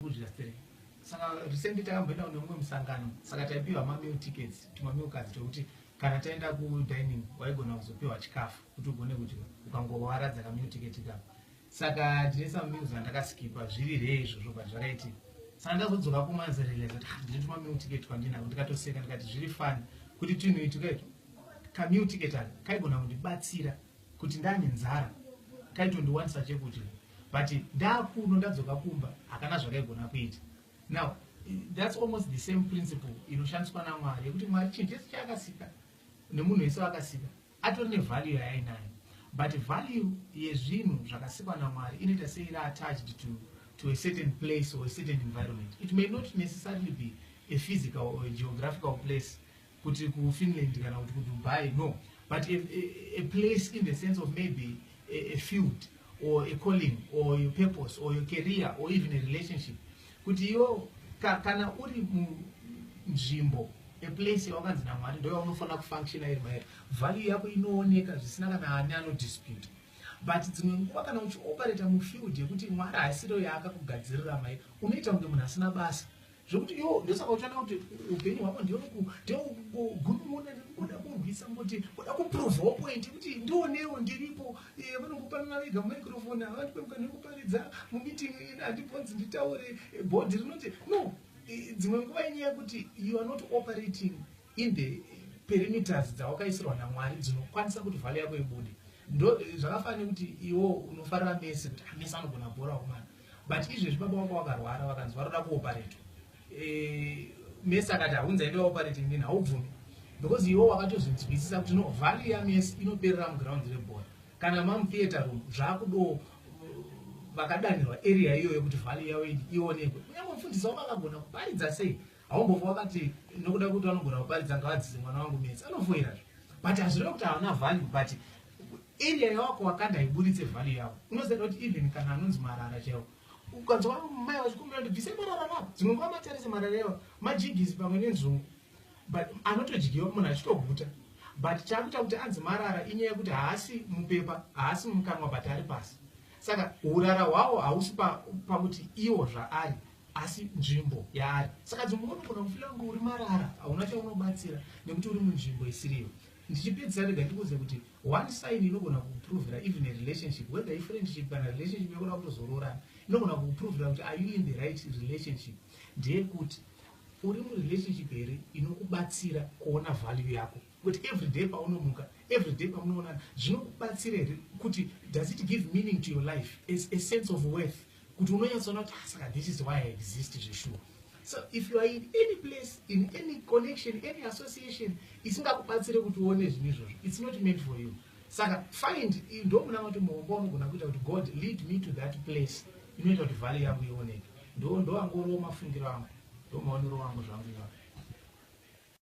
kudya three saka recently takamboenda kune umwe musangano saka taipiwa mameal tickets tumamil cards twekuti kana taenda kudining waigona kuzopiwa chikafu kuti ugone kudya ukangowaradza kameal ticket ikako saka ndine some meals andakaskipa zviri rei izvozvo but zvakaitika saka ndazodzoka kumanzi realize kuti ah, ndine tumamil ticket twandinako ndikatoseka ndikati zviri fani kuti twinhu itwukaitwa kameal ticket aka kaigona kundibatsira kuti ndane nzara kaitondiwanisa chekudya but ndakuno ndadzoka kumba hakana zvakaigona kuita now that's almost the same principle inoshandiswa namwari yekuti mwari chinhu chese chaakasika nemunhu wese wakasika atori nevalue yaainayo but value yezvinhu zvakasikwa namwari inoita seiri attached to, to a certain place or a certain environment it may not necessarily be a physical or a geographical place kuti kufinland kana kuti kudubai no but a, a, a place in the sense of maybe a, a field or a calling or your purpose or your career or even a relationship kuti iyo ka, kana uri munzvimbo a place yawakanzi namwari ndo yaunofanira kufunctiona iri mairi value yako inooneka zvisina kana ani anodispute but dzimwe nguva kana uchioperata mufield yekuti mwari haisiro yaakakugadzirira mai unoita kunge munhu asina basa zvekuti yo ndosaka uchada kuti upenyu hwako ndiokugunun'una nekuda kurwisa kuti kuda kuprovhawo point kuti ndionewo ndiripo eh, vanongopanana vega mumicrofoni havandipemuka nekuparidza mumeeting ina handibvonzi nditaure eh, bhodhi rinoti no eh, dzimwe nguva inyaya yekuti you are not operating in the perimeters dzawakaisirwa namwari dzinokwanisa kuti vhale yako ibude ndo zvakafanira kuti iwo unofarira mese kuti amese ah, anogona bhora kumana but izvezvi baba wako wakarwara vakanzi varoda kuoparetwa e, eh, mese akati haunza ende waopareti nini haubvumi because iwo wakatozvinzwisisa kuti no vhale yamese inoperera muground rebhora kana mamutheatre room zvakudo uh, vakadanirwa area iyoyo kuti vhale yavo ionekwe kunyange mufundisi wavo akagona kuparidza sei Haumbombo wakati nokuda kuti vanogona kuparidza ngavadzise mwana wangu mese anofoira zve but hazvireva kuti havana value but area yawako wakanda haiburitse value yavo unoziva kuti even kana anonzi marara chaiwo ukanzwa mai vachikumbira kuti bvise marara ravo dzimwe nguva matarise marara yavo majigisi pamwe nenzungu but anotodyiwa munhu achitoguta but chakuita kuti anzi marara inyaya yekuti haasi mupepa haasi mukanwa but ari pasi saka urara hwawo hausi pakuti pa iwo zvaari pa asi nzvimbo yaari saka dzimwe nguva unogona kufila kunge uri marara hauna chaunobatsira nekuti uri munzvimbo isiriyo ndichipedzisa rega ndikuudze kuti one sign inogona kuprovera even a relationship whether ifriendship kana relationship yakuda kutozoroorana inogona kuprovera kuti are you in the right relationship ndeyekuti uri murelationship here inokubatsira kuona value yako kuti everyday paunomuka everyday pamunoonana zvinokubatsira here kuti does it give meaning to your life as a sense of worth kuti unonyatsoona kuti ah, saka this is why i exist zveshuwa so if you are in any place in any connection any association isingakubatsire kuti uone zvinhu izvozvo its not meant for you saka find ndomuna kuti muhombo unogona kuita kuti god lead me to that place inoita kuti vhale yangu ioneke ndo ndovangorowo mafungiro angu ndomaonero wangu zvangu iwapo